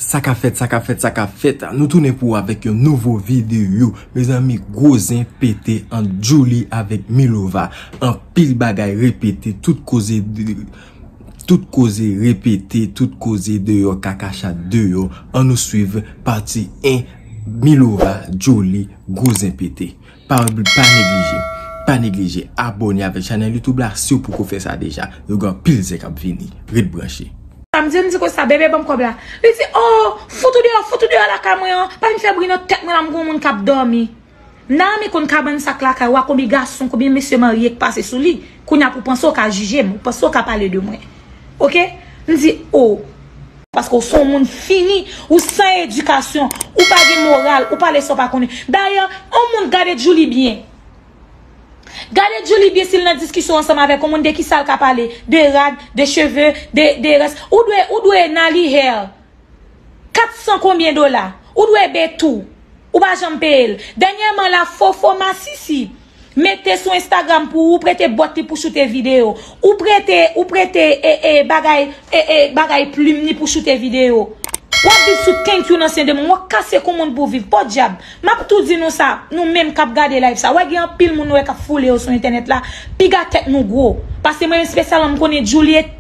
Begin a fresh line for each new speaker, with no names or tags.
Sa ka fèt, sa ka fèt, sa ka fèt. Nou tounen pou ou avèk yon nouvo videyo. Mezanmi, gwo zen pete ant Djouly avèk Milova. Anpil bagay repete, tout koze repete, tout koze deyò, kaka chat deyò. An nou swiv pati 1, Milova, Djouly, gwo zen pete. Pa neglije Pa neglije abone avek chanel youtube la siw poko fe sa deja yo gen anpil zen kap vini ret branche. Sa m di m di Costa
bebe banm kob la Li di oh fout ou deyò fout ou deyò lakay mwen an pa vin fè bri nan tèt mwen la m gon moun kap dòmi Naame konn kabann sak lakay wa konbyen gason konbyen mesye marye k pase sou li kounya pou panse w ka jije m ou panse w ka pale de mwen ok m di oh. Paske ou son moun fini, ou san edikasyon, ou pa gen moral, ou pale sa ou pa konnen. Dayè, on moun gade Djoulie byen. Gade Djoulie byen si l nan diskisyon ansanm avèk on moun de ki sa l ka pale. De rad, de cheve, de rès. Ou dwe, ou dwe Nali Hair. Kat san konbyen dola. Ou dwe Bettou. Ou pa janm peye l. Dènyèman la, Fofo Masisi. Mete sou Instagram pou ou prete bòt li pou choute video. Ou prete, ou prete e e bagay e e bagay plim li pou choute video. Wap viv sou thank you nan sen de moun. Wap kase kou moun pou viv. Pòdyab. Map tou di nou sa, nou menm kap gade live sa. Wè gen anpil moun nou wè kap foule yo sou entènèt la. Piga tèt nou gwo. Pase mwen espesyalman m konnen Djoulie.